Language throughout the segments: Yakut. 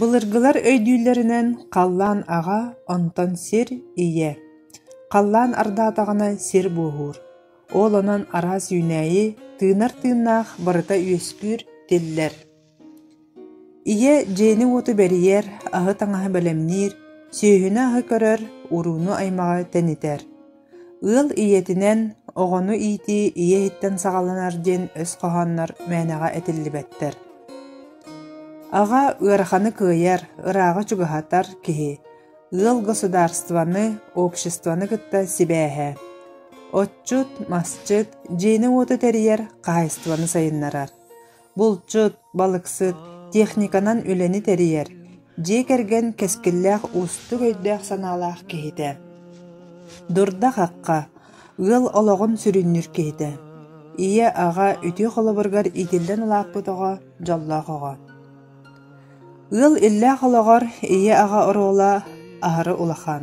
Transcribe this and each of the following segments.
Былыргылар өйдүүллэринэн, халлаан аҕа, онтон сир ийэ. Халлаан ардаатаҕына сир буоһуур. Ол онон араас үүнээйи, тыынар тыыннаах барыта үөскүүр, тиллэр. Ийэ дьиэни-уоту бэрийэр, аһы-таҥаһы бэлэмниир, сүөһүнү-аһы көрөр, урууну-аймаҕы тэнитэр. Ыал ийэтинэн оҕону иитии ийэ иһиттэн саҕаланар диэн өс хоһооннор мээнэҕэ этиллибэттэр. Аҕа ыараханы кыайар, ырааҕы чугаһатар киһи, ыал государствоны, обществоны кытта сибээһэ. Отчут, масчыт, дьиэни-уоту тэрийэр хаһаайыстыбаны сайыннарар. булчут, балыксыт, техниканан үлэни тэрийэр, дьиэ кэргэн кэскиллээх уустук өйдөөх-санаалаах киһитэ. Дурда-хахха, ыал олоҕун сүрүннүүр киһитэ. Ийэ, аҕа үтүө холобургар иитиллэн улааппыт оҕо, дьоллоох оҕо. Ыал иллээх олоҕор ийэ-аҕа оруола аһары улахан.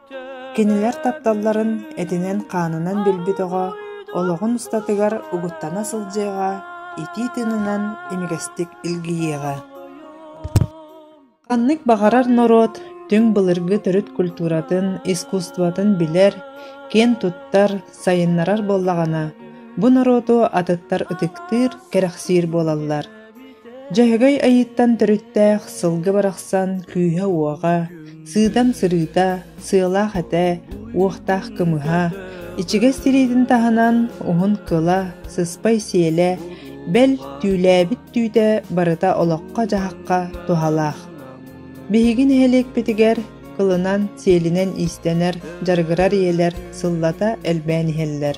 Кинилэр тапталларын этинэн-хаанынан билбит оҕо олоҕун устатыгар угуттана сылдьыаҕа, итии тыынынан имигэстик илгийиэҕэ Ханнык баҕарар норуот түҥ былыргы төрүт культуратын, искусствотын билэр, киэн туттар, сайыннарар буоллаҕына, бу норуоту атыттар ытыктыыр, кэрэхсиир буолаллар. Дьаһагай айыыттан төрүттээх сылгы барахсан күүһэ-уоҕа, сыытан-сырыыта, сыалаах этэ, уохтаах кымыһа, ичигэс тириитин таһынан уһун кыла, сыспай сиэлэ, бэл, түүлээбит түүтэ барыта олоххо-дьаһахха туһалаах. Биһиги нэһилиэкпитигэр кылынан-сиэлинэн иистэнэр, дьарыгырар ийэлэр сыллата элбээн иһэллэр.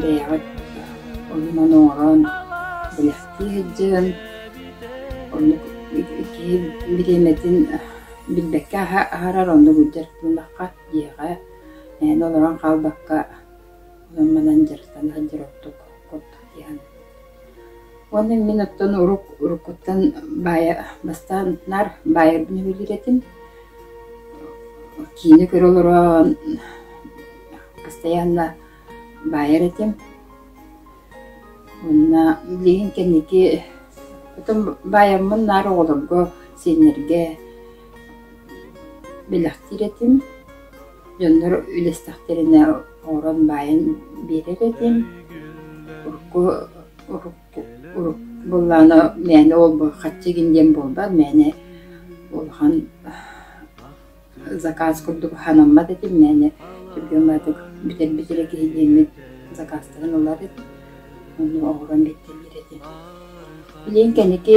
Бэйэҕит оннун оҥорон бэлэхтии сылдьыҥ. Оннук киһи бириэмэтин билбэккэ аһарар, оннук илдьэр гыннахха дьиэҕэ эн олорон хаалбакка, онон-манан дьарыктана сылдьар ордук курдук дии саныыбын. Уонна мин оттон урук уруккуттан баайа бастаан наар баайарбын үбүлүүр этим. Киинэ көрө олороон постоянно баайар этим. Уонна билигин кэнники потом баайаммын наар оҕолорго, сиэннэргэ бэлэхтиир этим. Дьоннор үлэстэхтэринэ оҥорон баайан биэрэр этим. Урукку урукку урукку буоллаҕына мээнэ ол хаччы гын диэн буолбат, мээнэ улахан заказ курдук санаммат этим, мээнэ түргэн барытык бүтэрбит эрэ киһи диэммит закастарын ылар этим. Ону оҥорон биэртэллэр этим. Билигин кэнники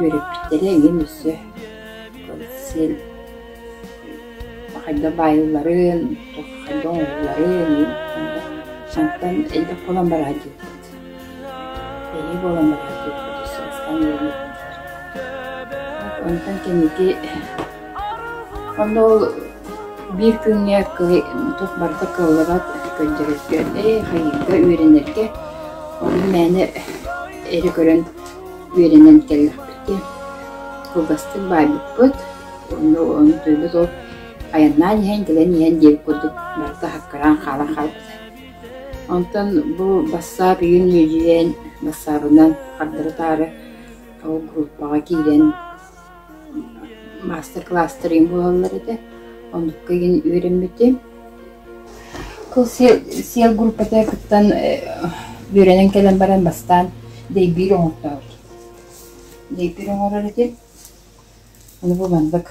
Үөрэппиттэрэ эҥин өссө полицей хайдах баайылларын, хайдах оҥоһулларын онтон элбэх буолан бараат диэбит. Эһиги буолан бараат диэбит өссө бастаан үөрэппиттэр. Онтон кэнники онно ол биир күҥҥэ туох барыта кыаллыбат көрдөрөргө, э хайыырга үөрэнэргэ. Ону мээнэ эрэ көрөн үөрэнэн кэллэхпит диэн кылгастык баайбыппыт уонна ол төрбүт ол айаннаан иһэн кэлэн иһэн диэбит курдук барыта аккараан хаалан хаалбыта онтон бу бассаап июнь үөдьүйэн бассаабынан хардары-таары ол группаҕа киирэн Маастар-кылаастарым буолаллар этэ, оннукка игин үөрэммитим. Кыл сиэл группата кыттан үөрэнэн кэлэн баран бастаан дэйбиир оҥортообут. Дэйбиир оҥорор этим, ону бу маннык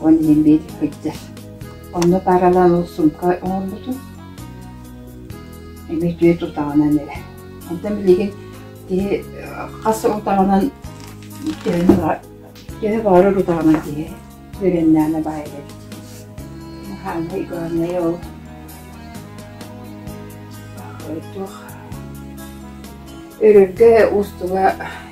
Ол иһин биир кырдьа онно пааралаан ол сумкаҕа оҥорбутум. Эмиэ үтүө тутаҕынан эрэ. Онтон билигин киһи хас утаҕынан төһөнү баар төһө баҕарар утаҕынан киһи үөрэннэҕинэ баайар эбит. Хаанай горнайа ол туох өрөргө, уустуга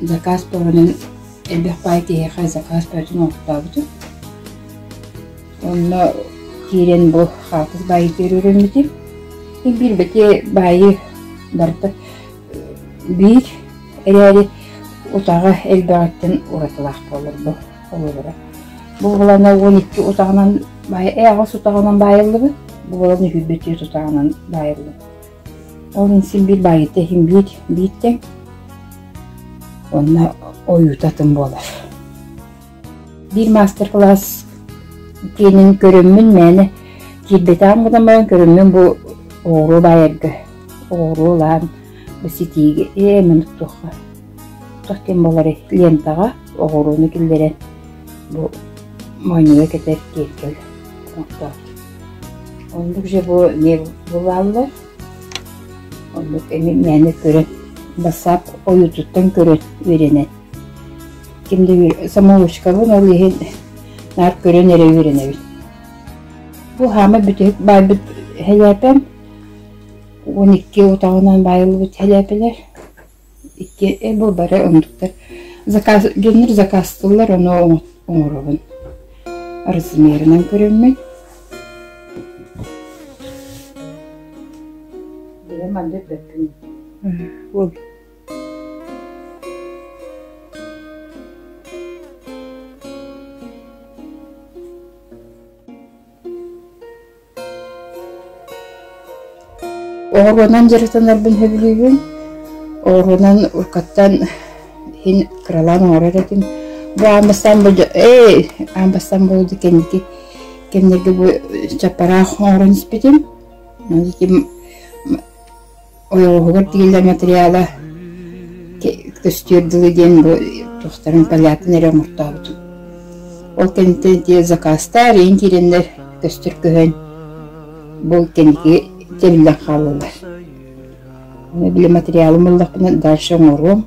заказ бөҕөнөн элбэх баай киһиэхэ заказ бөҕөтүн оҥортообутум. Онно киирэн бу хаалтыс баайытыгар үрүммүтүм. Биир бэти баайы барыта биир эрээри утаҕа элбэҕиттэн уратылаах буолар бу холобура. Бу булана уон икки утаҕынан баай, э аҕыс утаҕынан баайыллыбыт, бу булана сүүрбэ түөрт утаҕынан баайыллыбыт. Ол иһин син биир баайыыта иһин биир бииртэн уонна ойуута атын буолар. Биир маастар-кылаас тренерин көрөммүн мээнэ киирбэтэҕим гынан баран көрөммүн бу оҕуруо баайарга оҕуруо ылаан бу ситиигэ эмин уттуохха туох диэн буоларый лентаҕа оҕуруону киллэрэн бу моонньуга кэтэр киэркэл оҥортоот Оннук же бу бываллар. Оннук эми мээнэ көрөн бассаап ойуутуттан көрөн үөрэнэн ким да самоучкабын ол иһин наар көрөн эрэ үөрэнэбин. Бу хаамай бүтүһүк баайбыт хэлээпэм. Уон икки отоҕунан баайыллыбыт хэлээпэлэр. Иккиэбил бары оннуктар заказ генер закастыллар ону оҥоробун. Размерынан көрөммүн. Бэйэм андык бэппин. Бол. Оҕуруонан дьарыктанарбын сөбүлүүбүн. Оҕуруонан уруккаттан иһин кыралаан оҥорор этим. Бу аан бастаан бу эй аан бастаан буолуо кэнники кэмнэргэ бу чаппараах оҥорон испитим. Ону Ойоҕоһугар тигэллэр материала «Көстүөр дылы» диэн бу тустарын Полятын эрэ оҥортообутум. Ол кэнниттэн ити закастар ийин киирэннэр көстөр көһөн бу кэнники тэриллэн хааллылар. Били материалым ыллахпына дальше оҥоруом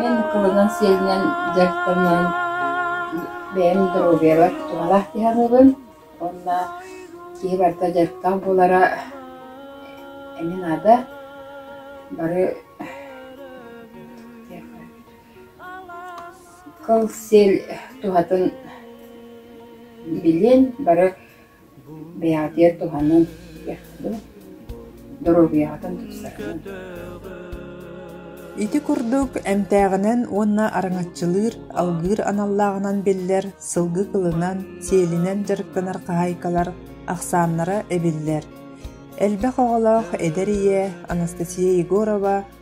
Мин кылынан сиэнинэн дьарыктаныан бэйэм доруобуйабар тутумалаах киһи аныыбын уонна киһи барыта дьарыктаах буолара эмиэ наада бары кыл сиэл туһатын билиэн бары Бэйаатыйа туһанан иһиэх дуу, доруобуйаҕытын тупсарыҥ. Ити курдук эмтээҕинэн уонна араҥаччылыыр, алгыыр аналлааҕынан биллэр сылгы кылынан, сиэлинэн дьарыктанар хаһаайкалар ахсааннара эбиллэр. Элбэх оҕолоох эдэр ийэ Анастасия Егорова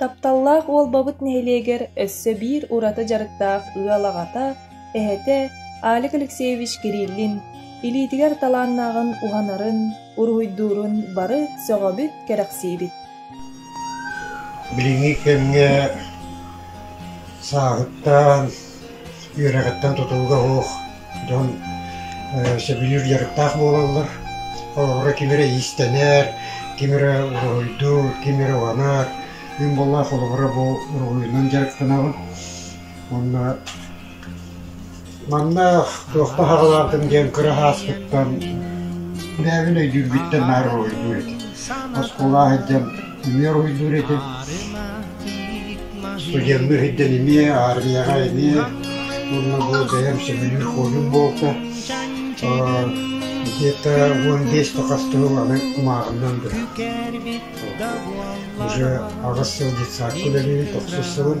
Тапталлаах Уолбабыт нэһилиэгэр өссө биир ураты дьарыктаах ыал аҕата, эһэтэ Алик Алексеевич Кириллин илиитигэр талааннааҕын уһанарын, Уруһуйдуурун бары сөҕөбүт, кэрэхсиибит Билиҥҥи кэмҥэ сааһыттан, үөрэҕиттэн тутулуга суох дьон сөбүлүүр дьарыктаах буолаллар. Холобура, ким эрэ иистэнэр, ким эрэ уруһуйдуур, ким эрэ уһанар. Үн буоллаах холобура бу уруһуйунан дьарыктанаҕын. Уонна Манна «Туох баһаҕалааххын?» диэн кыра сааспыттан бэйэбин өйдүүрбүттэн наһаа уруһуйдуур этим. Оскуола сылдьан эмиэ уруһуйдуур этим. Студенныы сылдьан эмиэ аармыйаҕа эмиэ уонна бу бэйэм сөбүлүүр хоббим буолта. Где-то уон биэс-хас сыл аны кумааҕымнан бырах. Уже аҕыс сыл детсадка үлэлиибин, тохсус сылым.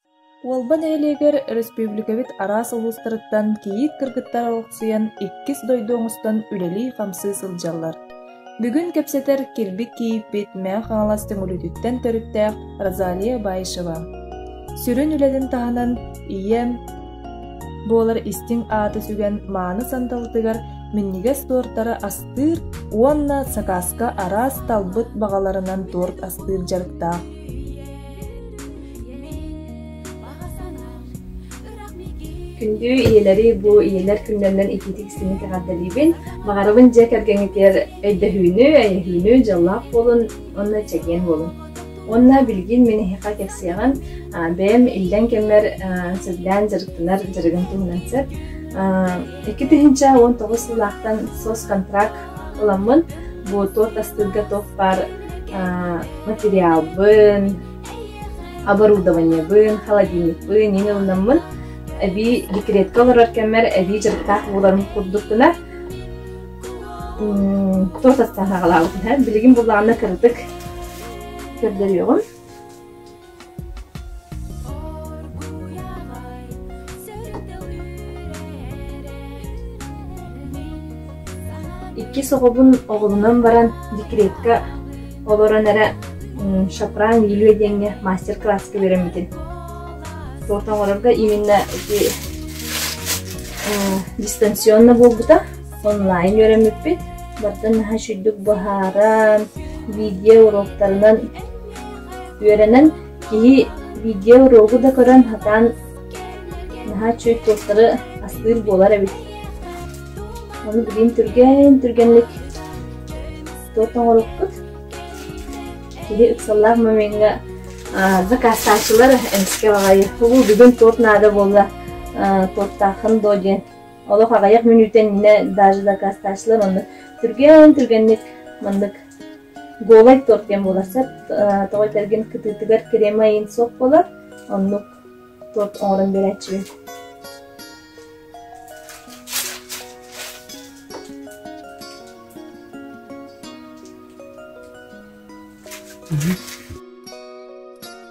Уолба нэһилиэгэр өрөспүүбүлүкэбит араас улуустарыттан кийиит кыргыттар олохсуйан иккис дойду оҥостон үлэлии-хамсыы сылдьаллар. Бүгүн кэпсэтэр Кирбик кийииппит Мэҥэ Хаҥалас Төҥүлүтүттэн төрүттээх Розалия Баишева. Сүрүн үлэтин таһынан ийэм буолар истиҥ ааты сүгэн мааны сандалытыгар минньигэс туортары астыыр уонна сакааска араас талбыт баҕаларынан туорт астыыр дьарыктаах. Күндү ийэлэри бу ийэлэр күннэринэн итиитик истиҥник эҕэрдэлиибин. Баҕарабын дьиэ кэргэҥҥитигэр өйдөһүүнү, эйэһиинү, дьоллоох буолун уонна чэгиэн буолун. Уонна билигин мин эһиэхэ кэпсиэҕим бэйэм иллэҥ кэммэр сүрдээн дьарыктанар дьарыгым туһунан сөп. Икки тыһыынча уон тоҕус сыллаахтан соц-контракт Ыламмын буотуот астыырга туох баар материалбын, оборудованиебын, холодильникпын иин ылынаммын эбии декретка олорор кэммэр эбии дьарыктаах буоларым курдук гына туос астаан саҕалаабытым. Билигин буллаҕына кыратык көрдөрүөҕүм. Иккис оҕобун оҕолонон баран декретка олорон эрэ шапран Юлия диэҥҥэ мастер-класска үөрэммитим. Суота оҥорорго именно ити дистанционно буолбута, онлайн үөрэммиппит. Баттан наһаа сүрдүк быһааран, видео уроктарынан Үөрэнэн киһи видео-уруогу да көрөн сатаан наһаа үчүгэй суостары астыыр буолар эбит. Ону билигин түргэн түргэнник туох оҥорукпут киһи ыксаллаах момеҥҥа закастааччылар эмискэ аҕайы булу бүгүн туох наада буолла туохтааххын доо диэн олох аҕайах мүнүүтэ иннинэ даже закастааччылар онно түргэн түргэнник маннык Голай туох диэн буолар сөп, тоҕо этэргин кытыытыгар кремаин суох буолар, оннук торт оҥорон биэрээччибин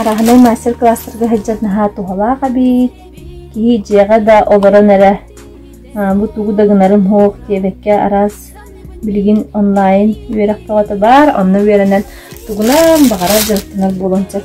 Араһынай мастер-класстарга сылдьан наһаа туһалаах эбит. Киһи дьиэҕэ да олорон эрэ бу тугу да гынарым суох диэбэккэ араас билигин онлайн үөрэх бөҕөтө баар, онно үөрэнэн тугунан баҕарар дьарыктанар буолан сөп.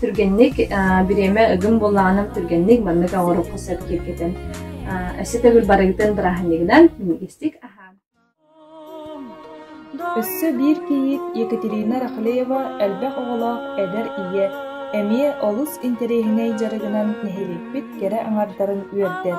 Түргэнник бириэмэ ыгым буоллаҕынан түргэнник маннык оҥоруохха сөп киэргэтэн өссө төгүл барыгытын бырааһынньыгынан миниистик аһаан Өссө биир кийиит Екатерина Рахлеева элбэх оҕолоох эдэр ийэ эмиэ олус интэриэһинэй дьарыгынан нэһилиэкпит кэрэ аҥардарын үөрдэр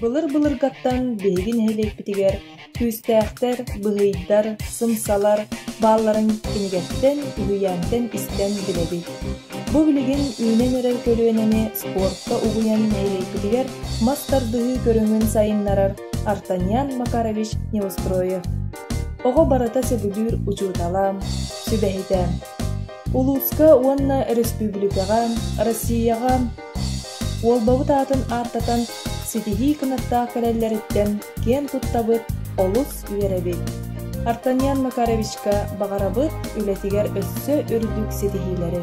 Былыр-былыргаттан биһиги нэһилиэкпитигэр күүстээхтэр, быһыйдар, сымсалар баалларын кинигэттэн, үһүйээнтэн истэн билэбит. Бу билигин үүнэн эрэр көлүөнэни спортка угуйан нэһилиэкпитигэр мас тардыһыы көрүҥүн сайыннарар Артаньян Макарович Неустроев. Оҕо барыта сөбүлүүр учуутала, сүбэһитэ. Улууска уонна республикаҕа, Россияҕа Уолбабыт аатын ааттатан ситиһии кынаттаах кэлэллэриттэн киэн туттабыт, олус үөрэбит. Артаньян Макаровичка баҕарабыт үлэтигэр өссө үрдүк ситиһиилэри.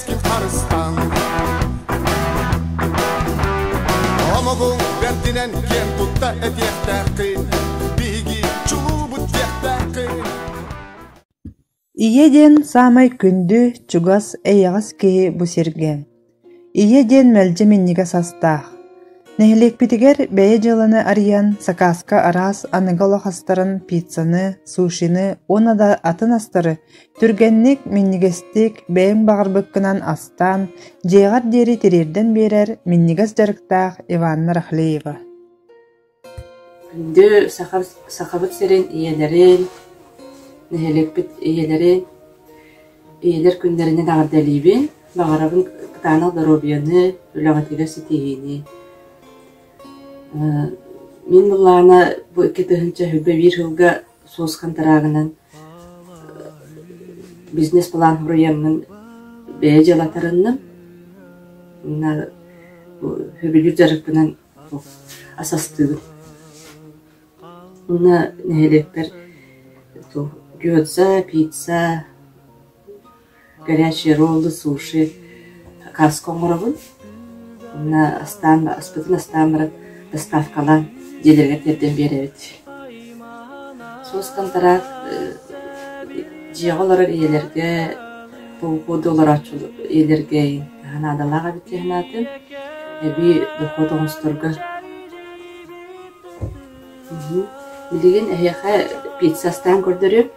харыстаан омугуҥ бэрдинэн киэн тутта этиэхтээххин биһиги чулуубут диэхтээххин Ийэ диэн саамай күндү, чугас, эйэҕэс киһи бу сиргэ. Ийэ диэн мэлдьи минньигэс састаах. Нэһилиэкпитигэр бэйэ дьыаланы арыйан, сакааска араас аныгы олох астарын, пиццаны, сушины уонна да атын астары Түргэнник, минньигэстик, бэйэҥ баҕарбыккынан астаан, дьиэҕэр диэри тириэрдэн биэрэр минньигэс дьарыктаах Иванна Рахлеева Күндү Саха, Сахабыт сирин ийэлэрин, нэһилиэкпит ийэлэрин, ийэлэр күннэринэн эҕэрдэлиибин, баҕарабын кытаанах доруобуйаны, үлэҕитигэр ситиһиини. Мин былаана бу икки тыһыынча сүүрбэ биир сылга Суос хантараагынан бизнес-план бырайыагынан бэйэ дьыала таранным уонна сөбүлүүр дьарыкпынан асастыбыт. Уонна нэһилиэкпэр пицца, горячие роллы, суши, каска оҥоробун. Уонна астаан, аспытын астаан баран доставкалаан дьиэлэригэр тиэрдэн биэрэбит. Соус хантараак дьиэҕэ олорор ийэлэргэ по уходу олорооччу ийэлэргэ наадалаах эбит дии санаатым. Эбии дохуот оҥосторго. Мм билигин эһиэхэ пицца астаан көрдөрүөм.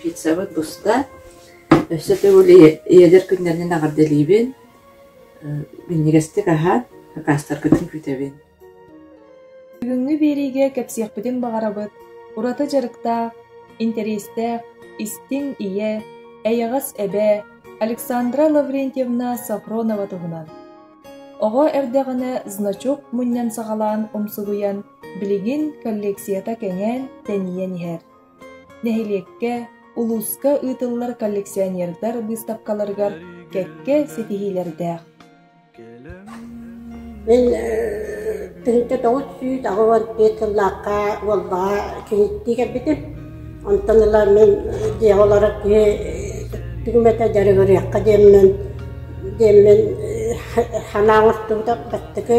Пиццабыт буста. Өссө төгүл ийэлэр күннэринэн эҕэрдэлиибин. Минньигэстик аһаат, акаастаргытын күүтэбин. Бүгүҥҥү биэриигэ кэпсиэхпитин баҕарабыт ураты дьарыктаах, интэриэстээх, истиҥ ийэ, эйэҕэс эбээ Александра Лаврентьевна Софронова туһунан. Оҕо эрдэҕинэ значок мунньан саҕалаан умсугуйан Билигин коллекцията кэҥээн, тэнийэн иһэр. Нэһилиэккэ, улууска ыытыллар коллекционердар быыстапкаларыгар кэккэ ситиһиилэрдээх. Мин тыһыта тоҕус сүүс аҕыс төрт сыллаахха Уолбаҕа киһиттии кэлбитим. Онтон ыла мин дьиэ олорор киһи түҥмэтэ дьарыгырыахха диэммин диэммин санаа оҥостубута бастакы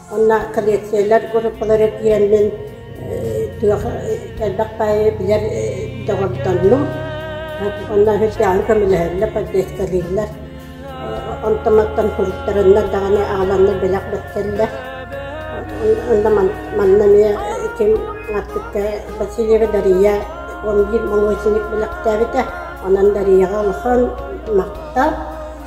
Уонна коллекциялар группалара киирэммин туох элбэх баайы билэр доҕордоннум. Уонна сыдьааны көмөлөһөллөр, подъездалыыллар. Онтон-мантан суруттарыннар даҕаны аҕаланны бэлэх бэртэллэр. Онно манна эмиэ ким Артыкка Васильева Дария он биир молочник бэлэхтээбитэ. Онон Дарияҕа улахан махтал.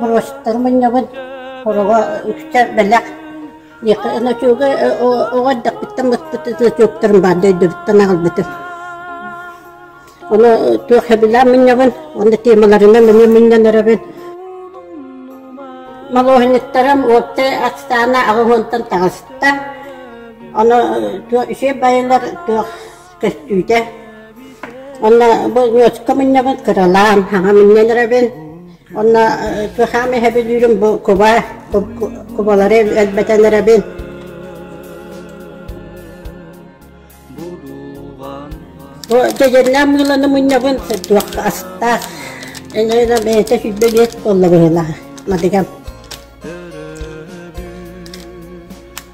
Брошюртары мунньабын, ороҕо үксэ бэлэх. Ночуга оҕо эрдэхпиттэн быспыт ночуктарым баар дөйдөбүттэн аҕалбытым. Ону туох хэбилээн мунньабын, онно темаларынан эмиэ мунньан өрөбүн. Малоһинниктарым уоптай ахсаана аҕыс уонтан таҕыста. Ону туох үйэ байылар туох көстүүтэ. Онно бу ньуочка мунньабын кыралаан хаҥа мунньан эрэбин. Онно ту хаам иһэбилүүрүм бу куба кубалары элбэтэн эрэбин. Бу дьэдьэрнээн мыыланы мунньабын сырдуохха астаах. Эйнээнэ бэйэтэ сүүрбэ биэс буолла быһыылаах. Мадыгам.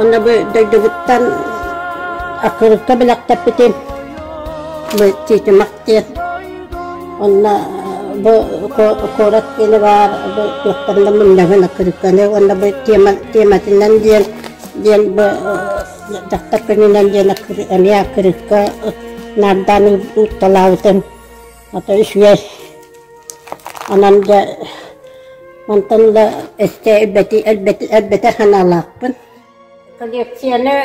Онно бу дойдубуттан Акырыкка бэлэхтэппитим. Бу Титимах диэн. Онно бу куорат киинэ баар, бу туохтанна мунньагын Акырыкканы, онно бу тема, тематынан диэн диэн бу дьахтар күнүнэн диэн эмиэ Акырыкка наардаан уутталаабытым. Ата үсүөс. Анан дьэ мантан ыла эсте элбэти элбэти элбэти ханаалаахпын. Коллекцияны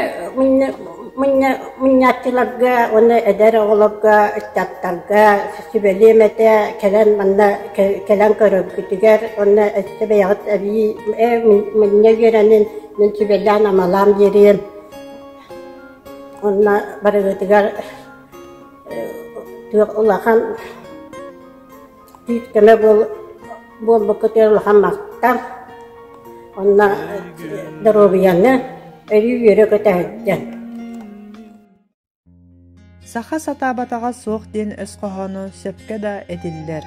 мунна мунньааччыларга уонна эдэр оҕолорго ыччаттарга сүбэлиэм этэ кэлэн манна кэлэн көрөргүтүгэр уонна эсте бэйэҕит эбии муння үөрэнин мин сүбэлээн амалаам диэриэн. Уонна барыгытыгар Күөх улахан түүт-көмө буолбукка түһэр улахан мастар. Онно доруобуйаны, өрүү-үөрэ көтө сылдьар. Саха сатаабатаҕа суох диэн өс хоһооно сөпкө да этиллэр.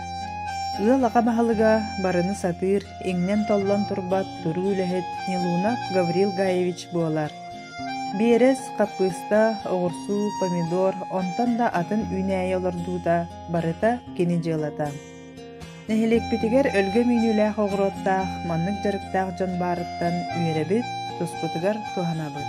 Ыал аҕа баһылыга барыны сатыыр, иҥнэн-толлон турбат туруу үлэһит Нилунов Гаврил Гаевич буолар. Биэрэс, хаппыыста, оҕурсуу, помидор, онтон да атын үүнээйи олордуута барыта кини дьыалата. Нэһилиэкпитигэр өлгөм үүнүүлээх оҕуруоттаах, маннык дьарыктаах дьон баарыттан үөрэбит, туспутугар туһанабыт.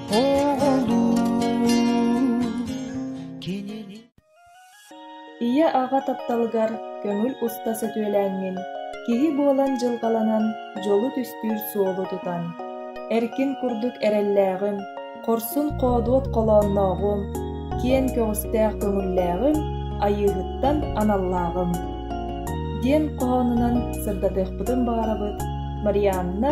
Ийэ аҕа тапталыгар көҥүл уста сөтүөлээҥҥин, киһи буолан дьылҕаланан дьолу түстүүр суолу тутан. Эркин курдук эрэллээҕим, хорсун хоодуот холооннооҕум, киэн көҕүстээх көҥүллээҕим, айыыһыттан аналлааҕым. диэн хоһоонунан сырдатыахпытын баҕарабыт Марианна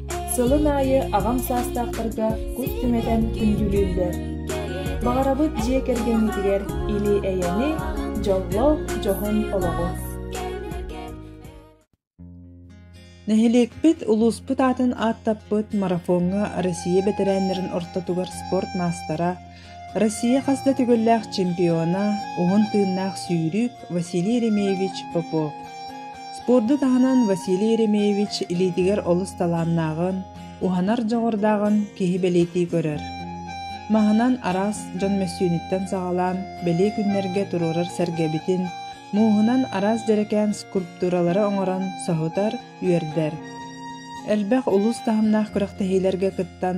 Сылын аайы аҕам саастаахтарга кут түҥэтэн күндүлүүллэр. Баҕарабыт дьиэ кэргэҥҥитигэр илии-эйэни, дьоллоох дьоһун олоҕу! Нэһилиэкпит, улууспут аатын ааттаппыт марафоҥҥа Россия бэтэрээннэрин ортотугар спорт маастара, Россия хас да төгүллээх чемпиона, уһун тыыннаах сүүрүүк Василий Еремеевич Попов. Спорду таһынан Василий Еремеевич илиитигэр олус талааннааҕын, уһанар дьоҕурдааҕын киһи бэлиэтии көрөр. Маһынан араас дьон мөссүөнүттэн саҕалаан бэлиэ күннэргэ туруорар сэргэбитин, мууһунан араас дьэрэкээн скульптуралары оҥорон соһутар, үөрдэр. Элбэх улуус таһымнаах күрэхтэһиилэргэ кыттан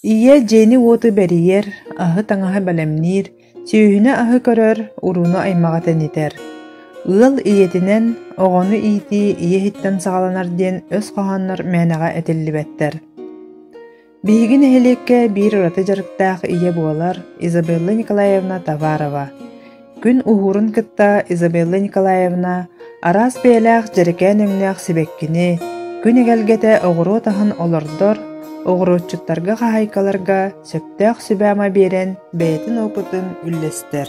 Ийэ дьиэни-уоту бэрийэр, аһы-таҥаһы бэлэмниир, сүүһүнэ-аһы көрөр, урууну-аймаҕы тэнитэр. Ыал ийэтинэн оҕону иитии ийэ иһиттэн саҕаланар диэн өс хоһооннор мээнэҕэ этиллибэттэр. Биһиги нэһилиэккэ биир ураты дьарыктаах ийэ буолар Изабелла Николаевна Товарова. Күн уһуурун кытта Изабелла Николаевна араас бэйэлээх дьэрэкээн өҥнөөх сибэккини, күн эгэлгэтэ оҕуруот аһын олордор, оҕуруотчуттарга хаһаайкаларга сөптөөх сүбэ-ама биэрэн бэйэтин опытын үллэстэр.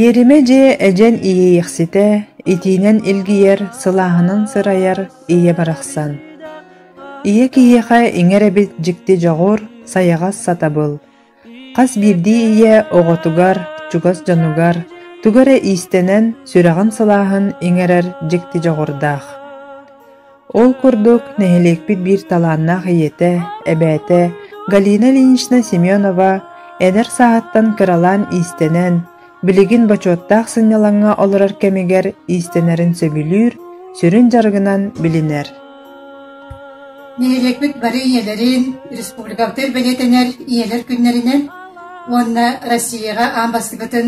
Иэримэ дьиэ эдьэн иэйиэхситэ, итиинэн илгийэр, сылааһынан сырайар ийэ барахсан. Ийэ киһиэхэ иҥэр эбит дьикти дьоҕур, сайаҕас сатабыл. Хас биирдии ийэ оҕотугар, чугас дьонугар, тугу эрэ иистэнэн, сүрэҕин сылааһын иҥэрэр дьикти дьоҕурдаах. Ол курдук, нэһилиэкпит биир талааннаах ийэтэ, эбээтэ Галина Ильинична Семенова эдэр сааһыттан кыралаан иистэнэн, билигин бочуоттаах сынньалаҥҥа олорор кэмигэр иистэнэрин сөбүлүүр, сүрүн дьарыгынан билинэр. Нэһилиэкпит бары ийэлэрин республикабытыгар бэлиэтэнэр ийэлэр күннэринэн уонна Россияҕа аан бастакытын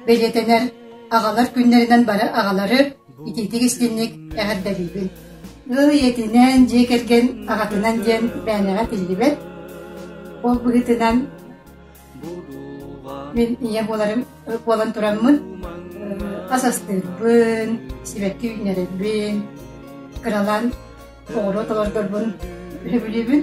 бэлиэтэнэр аҕалар күннэринэн бары аҕалары Итинник истинник эҕэрдэлиибин. Ый этинэн, дьиэ кэргэн аҕатынан диэн мээнэҕэ тиллибэт. Ол быһыытынан мин ийэ буоларым буолан тураммын ас астыырбын, сибэкки үүннэрэрбин, кыралаан оҕуруот олордорбун сөбүлүүбүн.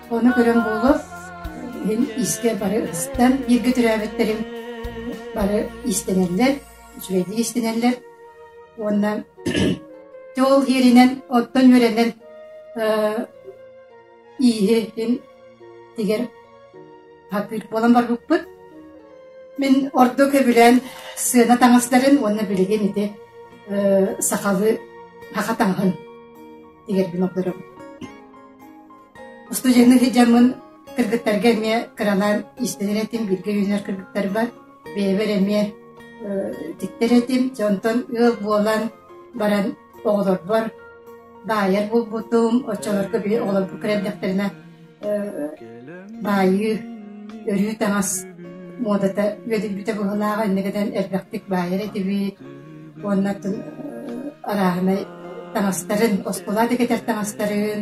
Ону көрөн буолуо, иһин искэ бары ыстан бииргэ төрөөбүттэрим бары истэнэллэр, үчүгэйдик истэнэллэр уонна Чэ ол иэринэн оттон үөрэнэн ииһин тигэр хакыыт буолан барбыппыт. Мин орду көбүлээн сыана таҥастарын уонна билигин ити сахалы хаха таҥаһын тигэрбин обдоробун. Устудьуоннуу сылдьаммын кыргыттарга эмиэ кыралаан иистэнэр этим, бииргэ үөрэнэр кыргыттарбар бэйэбэр эмиэ тиктэр этим. Онтон ыал буолан баран оҕолорбор баайар буолбутум, оччолорго били оҕолорбун көрөрдөхтөрүнэ баайыы, өрүү таҥас муодата үөдүйбүтэ быһыылаах, иннигинэн элбэхтик баайар этибит уонна арааһынай таҥастарын, оскуола да кэтэр таҥастарын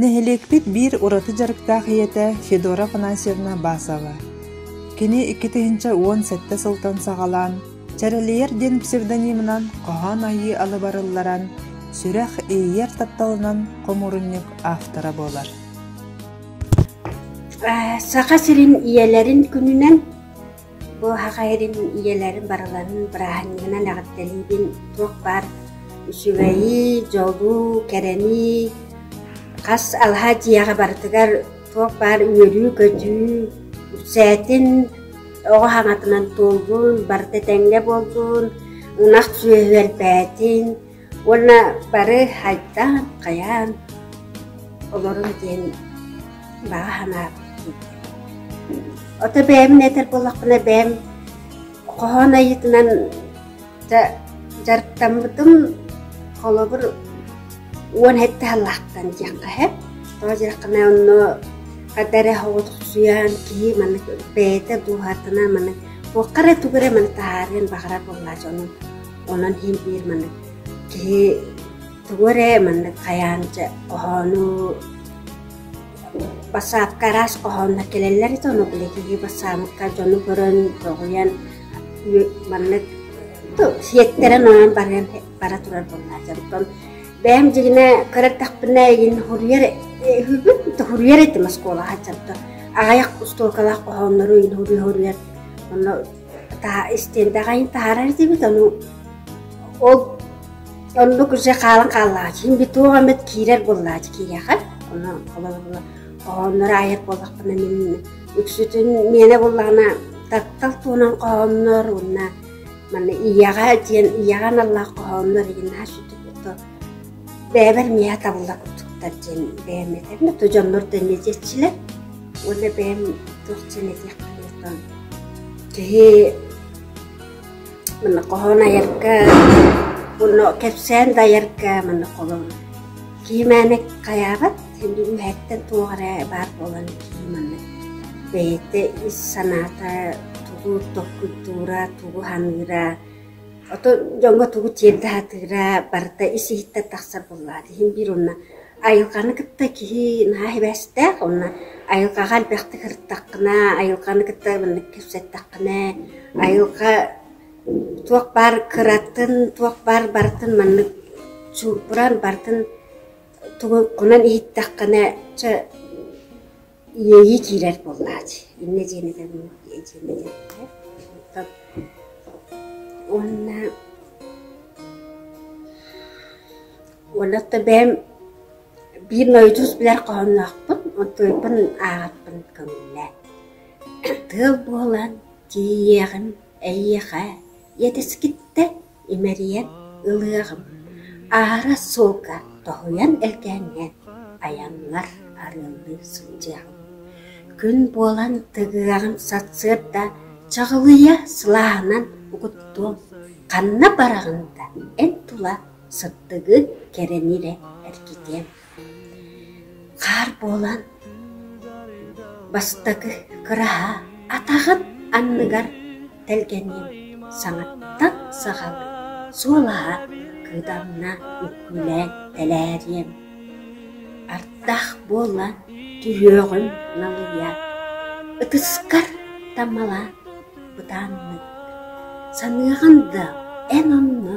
Нэһилиэкпит биир ураты дьарыктаах ийэтэ Федора Афанасьевна Басова. Кини иккитиһинчэ уон сэттэ сылтан саҕалаан «Чэрэлийэр» диэн псевдонимынан хоһоон айыы алыбарылларан, сүрэх иэйэр тапталынан хомуурунньук автора буолар Саха сирин ийэлэрин күнүнэн Бу аһаҕа эрим ийэлэрим барыларын бырааһынньыгынан эҕэрдэлиибин туох баар үчүгэйи, дьолу, кэрэни хас алаһа дьиэҕэ барытыгар туох баар үөрүү-көтүү, үксээтин оҕо хаҥатынан туоллун, барыта этэҥҥэ буоллун, ынах сүөһү элбээтин, Уонна бары хайдаан, хайаан олорун диэн баҕа санаабын Ото бэйэм этэр буоллахпына бэйэм хоһоон айыытынан дьарыктаммытым холобур уон сэттэ сыллаахтан диэххэ сөп. Тоҕо диэтэххинэ онно хата эрэ соҕотохсуйан киһи маннык бэйэтэ дууһатынан маннык туохха эрэ тугу эрэ маны таһаарыан баҕарар буоллааччы онон Онон иин-биир маннык киһи тугу эрэ маннык хайаан дьэ хоһоону бассаапка араас хоһооннор кэлэллэр ити ону билэ киһи бассаапка дьону көрөн доҕуйан маннык сиэттэрэн оонон баран бара турар буоллаах дьонтон бэйэм дьигинэ көр эрдэхпинэ игин хоруйар үһүбүн хоруйар этим оскуолаҕа дьонтон аҕайах оскуолалаах хоһооннору иин хоруйар онно истиэндэҕин таһаарар этибит ону ол оннук уже хаалан хааллаҕа син туох эмит киирэр буоллааччы киириэхэ ону холобура хоһоонноро айар буоллахпына мин үксүтүн миэнэ буоллаҕына таптал туһунан хоһооннор уонна манна ийэҕэ диэн ийэҕэ аналлаах хоһооннор игин наһаа сүтүк бэйэбэр миэхэ табылла курдуктар диэн бэйэм этэрим да дьоннор да нэдиэччилэр уонна бэйэм туох диэн этиэхпиний киһи мана хоһоон айарга уонна кэпсээн да айарга мана холон киһи мээнэ хайаабат indi үһэттэн туох эрэ баар буолан киһи манна бэйэтэ ис санаата тугу токкуйдуура тугу саныыра Ото дьоҥҥо тугу тиэрдэ сатыыра, барыта ис-иһиттэн тахсар буоллаҕа дии. Иһин биир уонна айылҕаны кытта киһи наһаа сибээстээх уонна айылҕаҕа элбэхтик сырыттаххына, айылҕаны кытта маннык кэпсэттэххинэ, айылҕа туох баар кыратын, туох баар барытын маннык суурбуран барытын тугу хонон иһиттэххинэ, чэ Иэйии киирэр буоллааччы. Иннэ дьиэнэтэн дьиэнэтэн тап уонна уонна бэйэм биир нойдьус билэр хоһоонноохпун, онтуйпун ааҕарбын көҥүллэ. Тыал буолан тиийиэҕим эйиэхэ, иэтэскиттэ Имэрийэн ылыаҕым, аара суолга тоһуйан элгээҥҥэ айаҥҥар арыаллыы сылдьыаҕым, күн буолан тыгыаҕын сарсыарда чаҕылыйа сылааһынан угуттуом, ханна бараҕын да эн тула сыттыгын кэрэн ирэ эргитиэм Хаар буолан, бастакы кыраһа атаҕын анныгар тэлгэнин саҥаттан саҕалыы суолаһа кыытанна үккүүлээн тэлээриэм, ардах буолан түһүөҕүм налыйа, ытыскар тамалаан бытааннык, саныаҕын да эн онно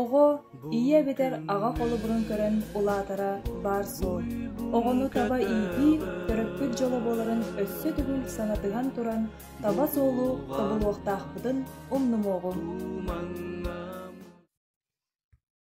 Оҕо ийэ эбэтэр аҕа холобурун көрөн улаатара баар суол. Оҕону таба иитии төрөппүт дьоло буоларын өссө төгүл санатыһан туран, таба суолу тобулуохтаахпытын умнумуоҕум.